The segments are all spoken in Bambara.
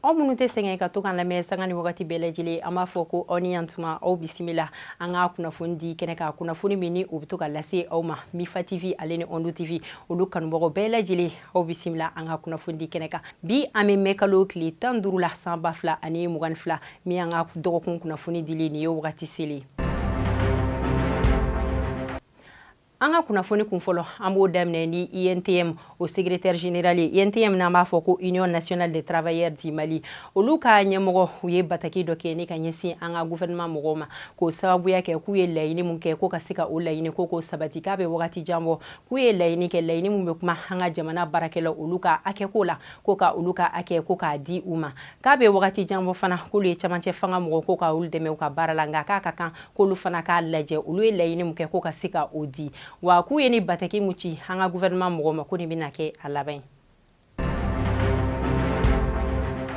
aw minnu tɛ sɛgɛn ka to k'an lamɛn sanga ni wagati bɛɛ lajɛlen an b'a fɔ ko aw ni yantuma aw bisimila an ka kunnafoni di kɛnɛ kan kunnafoni min ni o bɛ to ka lase aw ma mifa tv ale ni ondu tv olu kanubagaw bɛɛ lajɛlen aw bisimila an ka kunnafoni di kɛnɛ kan bi an bɛ mɛ kalo tile tan duuru la san ba fila ani mugan ni fila min an ka dɔgɔkun kunnafoni dili nin ye wagati selen an ka kunnafoni kun fɔlɔ an b'o daminɛ ni untm o secrétaire général ye untm n'an b'a fɔ ko union nationale des travailleurs du mali olu ka ɲɛmɔgɔ u ye bataki dɔ kɛ ni ka ɲɛsin an ka gouvernement mɔgɔw ma k'o sababuya kɛ k'u ye laɲini min kɛ ko ka se ka o laɲini ko k'o sabati k'a bɛ wagati jan bɔ k'u ye laɲini kɛ laɲini min bɛ kuma an ka jamana baarakɛlaw olu ka hakɛko la ko ka olu ka hakɛ ko k'a di u ma k'a bɛ wagati jan bɔ fana k'olu ye camancɛ fanga mɔgɔw ko ka olu dɛmɛ u ka baara la nka k'a ka kan k'olu fana k'a lajɛ olu ye laɲini min kɛ ko ka se ka o di wa k'u ye ni bataki min ci an ka gouvernement mɔgɔw ma ko nin bɛna kɛ a laban ye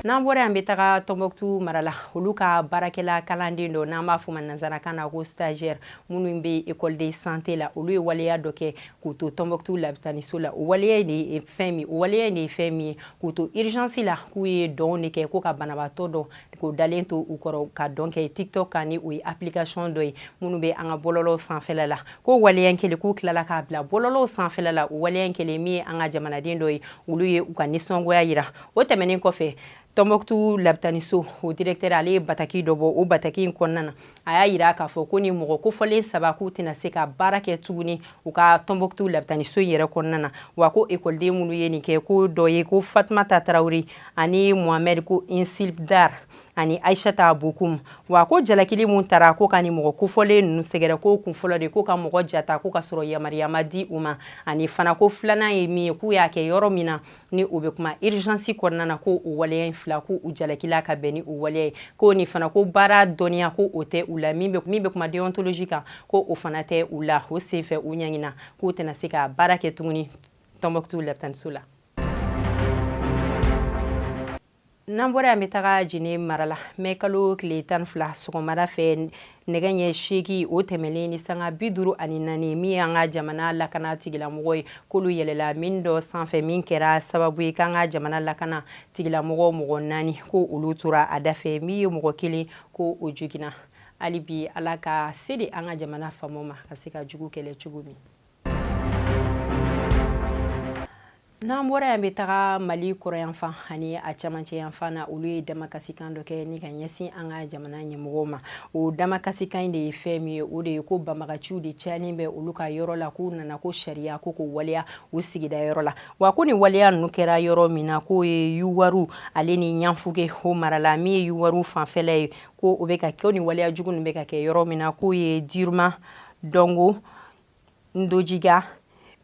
n'an bɔra yan bɛ taga tɔnbɔkutu mara la olu ka baarakɛla kalanden dɔ n'an b'a fɔ ma nanzarakan na ko stagiaire minnu bɛ école de santé la olu ye waleya dɔ kɛ k'u to tɔnbɔkutu labitaniso la o waleya in de ye fɛn min o waleya in de ye fɛn min ye k'u to urgence la k'u ye dɔn de kɛ ko ka banabaatɔ dɔ k'o dalen to u kɔrɔ ka dɔn kɛ tiktok kan ni o ye application dɔ ye minnu bɛ an ka bɔlɔlɔw sanfɛla la ko waleya in kɛlen k'u tilala k'a bila bɔlɔlɔw sanfɛla la o waleya in kɛlen min ye an ka jamanaden dɔ ye olu ye u ka nisɔngoya yira o tɛmɛnen kɔfɛ Tɔnbɔkutu labitaniso o directeur ale ye bataki dɔ bɔ o bataki in kɔnɔna na a y'a yira k'a fɔ ko ni mɔgɔ kofɔlen saba k'u tɛna se ka baara kɛ tuguni u ka tɔnbɔkutu labitaniso in yɛrɛ kɔnɔna na wa ko ekɔliden minnu ye nin kɛ ko dɔ ye ko fatumata tarawele ani mohamɛd ko insilbdar ani aisata bokum wa ko jalakili min tara ko ka ni mɔgɔ kofɔlen ninnu sɛgɛrɛ ko kun fɔlɔ de ko ka mɔgɔ ja ta ko ka sɔrɔ yamariya ma di u ma ani fana ko filanan ye min ye k'u y'a kɛ yɔrɔ min na ni o bɛ kuma urgence kɔnɔna na ko o waleya in fila ko u jalakila ka bɛn ni o waleya ye ko nin fana ko baara dɔnniya ko o tɛ u la min bɛ kuma déontologie kan ko o fana tɛ u la o senfɛ u ɲangina k'u tɛna se ka baara kɛ tuguni tɔnbɔkutu labitaniso la n'an bɔra yan bɛ taga jine mara la mɛ kalo tile tan fila sɔgɔmada fɛ nɛgɛ ɲɛ seegin o tɛmɛlen ni sanga bi duuru ani naani min y'an ka jamana lakana tigilamɔgɔ ye k'olu yɛlɛla mine dɔ sanfɛ min kɛra sababu ye k'an ka jamana lakana tigilamɔgɔ mɔgɔ naani ko olu tora a dafɛ min ye mɔgɔ kelen ko o joginna hali bi ala ka se di an ka jamana faamaw ma ka se ka jugu kɛlɛ cogo min n'an bɔra yan bɛ taga mali kɔrɔnyanfan ani a camancɛ yanfan na olu ye damakasikan dɔ kɛ ni ka ɲɛsin an ka jamana ɲɛmɔgɔw ma o damakasikan de ye fɛn min ye o de ye ko banbagaciw de cayalen bɛ olu ka yɔrɔ la k'u nana ko sariya ko k'o waleya u sigida yɔrɔ la wa ko nin waleya ninnu kɛra yɔrɔ min na k'o ye yuwaru ale ni ɲanfuge o mara la min ye yuwaru fanfɛla ye ko o bɛ ka kɛ ni waleya jugu ninnu bɛ ka kɛ yɔrɔ min na k'o ye diruma dongo ndojiga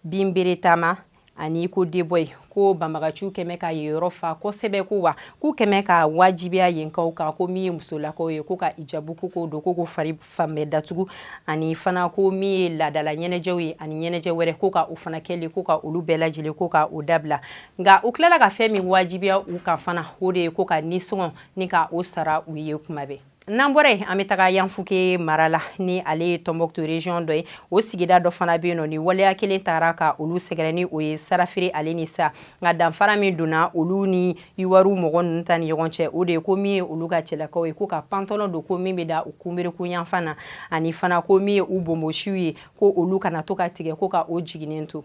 binbere tama ani ko deboyi ko banbagaciw kɛlen bɛ ka yen yɔrɔ fa kosɛbɛ ko wa k'u kɛlen bɛ k'a wajibiya yenkaw kan ko min ye musolakaw ye ko ka ijabu ko k'o don ko k'u fari fan bɛɛ datugu ani fana ko min ye laadala ɲɛnajɛw ye ani ɲɛnajɛ wɛrɛ ko ka o fana kɛli ko ka olu bɛɛ lajɛlen ko ka o dabila nka u tilala ka fɛn min wajibiya u kan fana o de ye ko ka nisɔngɔ ni ka o sara u ye kuma bɛɛ n'an bɔra yen an bɛ taga ɲanfuke mara la ni ale ye tɔnbɔkutu région dɔ ye o sigida dɔ fana bɛ yen nɔ ni waleya kelen taara ka olu sɛgɛrɛ ni o ye sarafiri ale ni sa nka danfara min donna olu ni yuwaru mɔgɔ ninnu ta ni ɲɔgɔn cɛ o de ye ko min ye olu ka cɛlakaw ye ko ka pantalɔn don ko min bɛ dan u kunberekun yanfan na ani fana ko min ye u bonbosiw ye ko olu kana to ka tigɛ ko ka o jiginnen to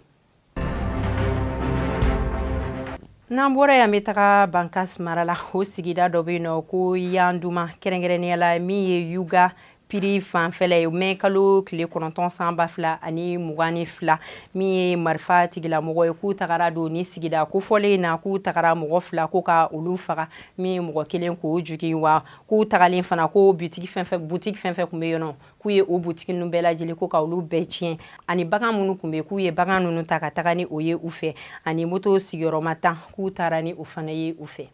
n'an bɔra yan bɛ taga bankas mara la o sigida dɔ bɛ yen nɔ ko yanduma kɛrɛnkɛrɛnnenya la min ye yuga piri fanfɛla ye mɛ kalo tile kɔnɔntɔn san ba fila ani mugan ni fila min ye marifa tigilamɔgɔ ye k'u tagara don nin sigida kofɔlen in na k'u tagara mɔgɔ fila ko ka olu faga min ye mɔgɔ kelen k'o jogin wa k'u tagalen fana ko butigi fɛn fɛn kun bɛ yen nɔ k'u ye o butigi ninnu bɛɛ lajɛlen ko ka olu bɛɛ tiɲɛ ani bagan minnu kun bɛ k'u ye bagan ninnu ta ka taga ni o ye u fɛ ani moto sigiyɔrɔma tan k'u taara ni o fana ye u fɛ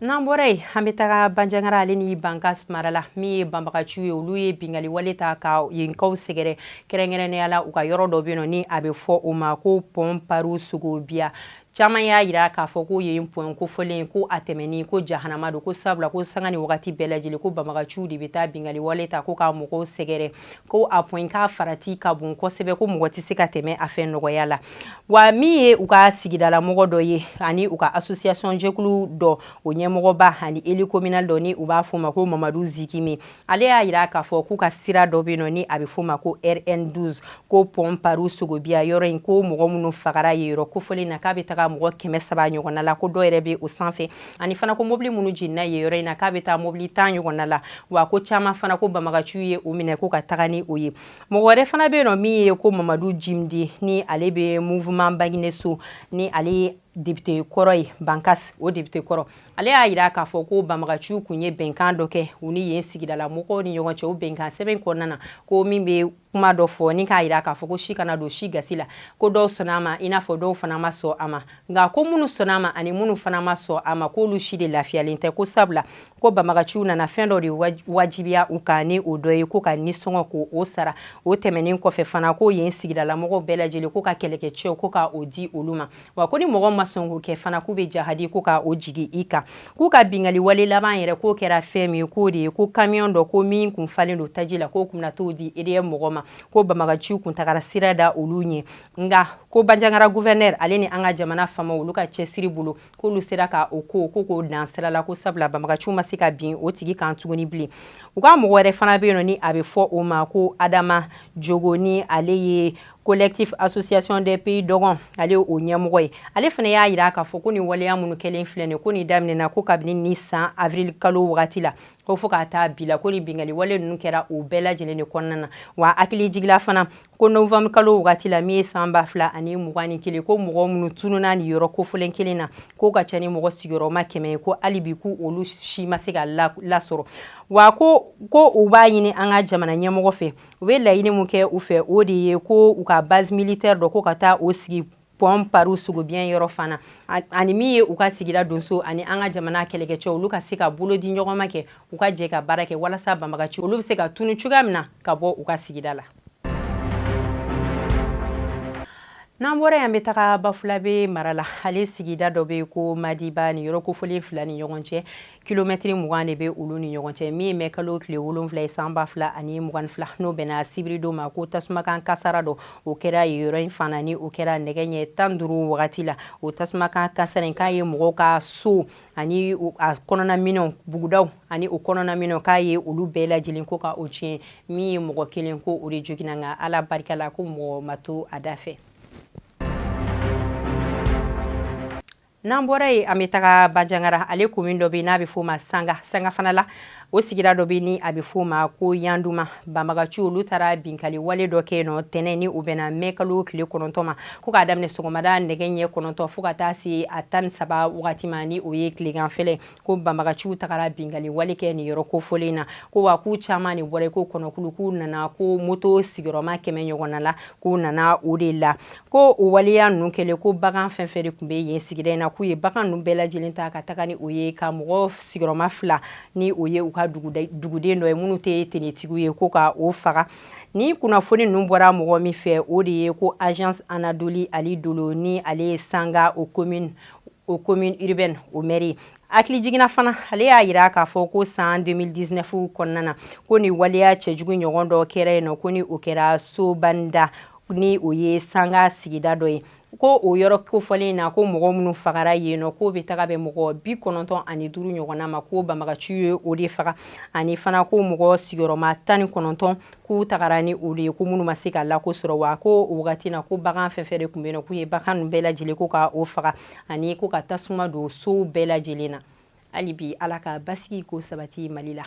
n'an bɔra yen an bɛ taga banjagara ale ni bankas mara la min ye banbagaciw ye olu ye bingali wale ta ka yenkaw sɛgɛrɛ kɛrɛnkɛrɛnnenya la u ka yɔrɔ dɔ bɛ yen nɔ ni a bɛ fɔ o ma ko pɔn paru sogobiya caman y'a yira k'a fɔ ko yen pɔn kofɔlen ko a tɛmɛni ko jahanama don ko sabula ko sanga ni wagati bɛɛ lajɛlen ko banbagaciw de bɛ taa bingali wale ta ko ka mɔgɔw sɛgɛrɛ ko a pɔn k'a farati ka bon kosɛbɛ ko mɔgɔ tɛ se ka tɛmɛ a fɛ nɔgɔya la wa min ye u ka sigidalamɔgɔ dɔ ye ani u ka association jɛkulu dɔ o ɲɛmɔgɔba ani élu communal dɔ ni u b'a fɔ o ma ko mamadu zikimi ale y'a yira k'a fɔ k'u ka sira dɔ bɛ yen nɔ ni a bɛ f'o ma ko rn12 ko pɔn paru sogobiya yɔrɔ in ko mɔgɔ minnu fagara yen yɔrɔ kofɔlen na k'a bɛ taga mɔgɔ kɛmɛ saba ɲɔgɔnna la ko dɔ yɛrɛ bɛ o sanfɛ ani fana ko mobili minnu jenina yen yɔrɔ in na k'a bɛ taa mobili tan ɲɔgɔnna la wa ko caman fana ko banbagaciw ye o minɛ ko ka taga ni o ye mɔgɔ wɛrɛ fana bɛ yen nɔ min ye ko mamadu jimde ni ale bɛ mouvement bagineso ni ale depite kɔrɔ ye bankas o depite kɔrɔ ale y'a yira k'a fɔ ko banbagaciw kun ye bɛnkan dɔ kɛ u ni yen sigidala mɔgɔw ni ɲɔgɔn cɛ o bɛnkan sɛbɛn kɔnɔna na ko min bɛ kuma dɔ fɔ ni k'a yira k'a fɔ ko si kana don si gasi la ko dɔw sɔnna a ma i n'a fɔ dɔw fana ma sɔn a ma nka ko minnu sɔnna a ma ani minnu fana ma sɔn a ma k'olu si de lafiyalen tɛ ko sabula ko banbagaciw nana fɛn dɔ de wajibiya u kan ni o dɔ ye ko ka nisɔngɔ ko o sara o tɛmɛnen kɔfɛ fana ko yen sigidala mɔgɔw bɛɛ lajɛlen ko ka kɛlɛkɛcɛw ko ka o di olu ma wa ko ni mɔgɔ ma sɔn k'o kɛ fana k'u bɛ jahadi ko ka o jigi i kan k'u ka bingali wale laban yɛrɛ k'o kɛra fɛn min ye k'o de ye ko kamiyɔn dɔ ko min kun falen don taji la k'o kun na t'o di EDM mɔgɔ ma ko banbagaciw kun tagara sira da olu ɲɛ nka ko banjagara gouverneur ale ni an ka jamana fama olu ka cɛsiri bolo k'olu sera ka o ko ko k'o dan sira la ko sabula banbagaciw ma se ka bin o tigi kan tuguni bilen u ka mɔgɔ wɛrɛ fana bɛ yen nɔ ni a bɛ fɔ o ma ko adama jongo ni ale ye collectif association des pays dɔgɔn ale o ɲɛmɔgɔ ye ale fana y'a yira k'a fɔ ko nin waleya minnu kɛlen filɛ nin ko nin daminɛna ko kabini nin san avril kalo wagati la ko fo ka taa bi la ko nin bingali wale ninnu kɛra o bɛɛ lajɛlen de kɔnɔna na wa hakili jigila fana ko novembre kalo wagati la min ye san ba fila ani mugan ni kelen ko mɔgɔ minnu tununa nin yɔrɔ kofɔlen kelen na k'o ka ca ni mɔgɔ sigiyɔrɔma kɛmɛ ye ko hali bi k'u olu si ma se ka lasɔrɔ wa ko ko u b'a ɲini an ka jamana ɲɛmɔgɔ fɛ u bɛ laɲini min kɛ u fɛ o de ye ko u ka base militaire dɔ ko ka taa o sigi pɔn paru songobiya yɔrɔ fana ani min ye u ka sigida donso ani an ka jamana kɛlɛkɛcɛ olu ka se ka bolo di ɲɔgɔn ma kɛ u ka jɛ ka baara kɛ walasa banbagaci olu bɛ se ka tunu cogoya min na ka bɔ u ka sigida la n'an bɔra yen an bɛ taga bafulabe mara la ale sigida dɔ bɛ ko madiba nin yɔrɔ kofɔlen fila ni ɲɔgɔn cɛ kilomɛtiri mugan de bɛ olu ni ɲɔgɔn cɛ min ye mai kalo tile wolonfila ye san ba fila ani mugan fila n'o bɛnna sibiridon ma ko tasumakan kasara dɔ o kɛra yen yɔrɔ in fana ni o kɛra nɛgɛ ɲɛ tan duuru wagati la o tasumakan kasara in k'a ye mɔgɔw ka so ani a kɔnɔnaminɛnw bugudaw ani o kɔnɔnaminɛnw k'a ye olu bɛɛ lajɛlen ko ka o tiɲɛ min ye mɔgɔ kelen ko o de joginna nka ala barika la ko mɔgɔ ma to a da fɛ N'an bɔra yen an bɛ taga Banjagara ale komin dɔ bɛ yen n'a bɛ f'o ma Sanga Sanga fana la o sigida dɔ bɛ yen ni a bɛ f'o ma ko Yanduma banbagaciw olu taara binkali wale dɔ kɛ yen nɔ tɛnɛn ni o bɛnna mai kalo tile kɔnɔntɔn ma ko k'a daminɛ sɔgɔmada nɛgɛ ɲɛ kɔnɔntɔn fo ka taa se a tan ni saba wagati ma ni o ye tileganfɛla ye ko banbagaciw tagara binkanni wale kɛ nin yɔrɔ kofɔlen na ko wa k'u caman de bɔra ko kɔnɔkulu k'u nana ko moto sigiyɔrɔma kɛmɛ ɲɔgɔnna la k'u nana o de la ko o waleya ninnu kɛlen ko bagan fɛn fɛn de tun bɛ yen sigida in na k'u ye bagan ninnu bɛɛ lajɛlen ta ka taga ni o ye ka mɔgɔ sigiyɔrɔma fila ni o ye u ka duguden dɔ ye minnu tɛ finitigiw ye ko ka o faga ni kunnafoni ninnu bɔra mɔgɔ min fɛ o de ye ko agence anadolu ali dolo ni ale ye sanga o komin o commune urbaine o mɛri hakilijigin na fana ale y'a yira k'a fɔ ko san 2019 kɔnɔna na ko ni waleya cɛjugu ɲɔgɔn dɔ kɛra yen nɔ ko ni o kɛra sobanda ni o ye sanga sigida dɔ ye ko o yɔrɔ kofɔlen na ko mɔgɔ minnu fagara yen nɔ k'o bɛ taga bɛn mɔgɔ bi kɔnɔntɔn ani duuru ɲɔgɔnna ma ko banbagaciw ye o de faga ani fana ko mɔgɔ sigiyɔrɔma tan ni kɔnɔntɔn k'u tagara ni olu ye ko minnu ma se ka lako sɔrɔ wa ko o wagati na ko bagan fɛn fɛn de tun bɛ yen k'u ye bagan ninnu bɛɛ lajɛlen ko ka o faga ani ko ka tasuma don sow bɛɛ lajɛlen na hali bi ala ka basigi k'o sabati mali la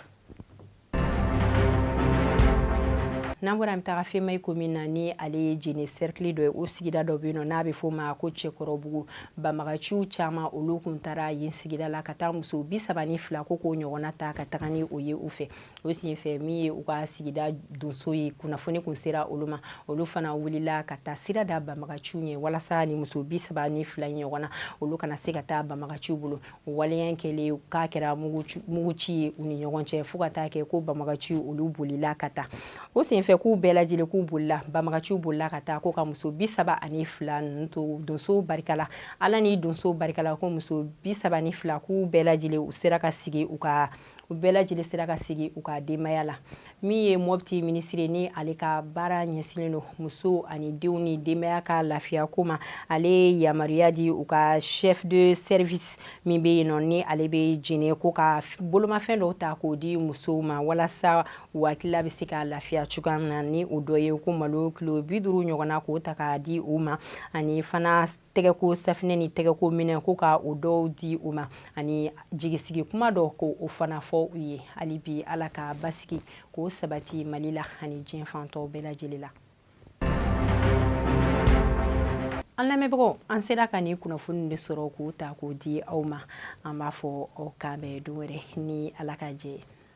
n'an bɔra an bɛ taga femayi komin na ni ale ye jene sɛrikili dɔ ye o sigida dɔ bɛ yen nɔ n'a bɛ f'o ma ko cɛkɔrɔbugu banbagaciw caman olu kun taara yen sigida la ka taa muso bi saba ni fila ko k'o ɲɔgɔnna ta ka taga ni o ye u fɛ o senfɛ min ye u ka sigida donso ye kunnafoni kun sera olu ma olu fana wulila ka taa sira da banbagaciw ɲɛ walasa ni muso bi saba ni fila ɲɔgɔnna olu kana se ka taa banbagaciw bolo o waleya kɛlen k'a kɛra muguci ye u ni ɲɔgɔn cɛ fo ka taa kɛ ko banbagaciw olu bolila ka taa o senfɛ k'u bɛɛ lajɛlen k'u bolila banbagaciw bolila ka taa ko ka muso bi saba ani fila ninnu to donso barika la ala ni donso barika la ko muso bi saba ni fila k'u bɛɛ lajɛlen u sera ka segin u ka u bɛɛ lajɛlen sera ka segin u ka denbaya la min ye mɔbiti minisiri ni ale ka baara ɲɛsinnen don muso ani denw ni denbaya ka lafiya ko ma ale ye yamaruya di u ka chef de service min bɛ yen nɔ ni ale bɛ jene ko ka bolomafɛn dɔw ta k'o di musow ma walasa u hakilila bɛ se ka lafiya cogoya min na ni o dɔ ye ko malo kilo bi duuru ɲɔgɔnna k'o ta k'a di u ma ani fana tɛgɛko safinɛ ni tɛgɛko minɛ ko ka o dɔw di u ma ani jigisigi kuma dɔ ko o fana fɔ u ye hali bi ala ka basigi k'o sabati mali la ani diɲɛ fan tɔw bɛɛ lajɛlen la an lamɛnbagaw an sera ka nin kunnafoni de sɔrɔ k'o ta k'o di aw ma an b'a fɔ aw k'an bɛn don wɛrɛ ni ala ka jɛ ye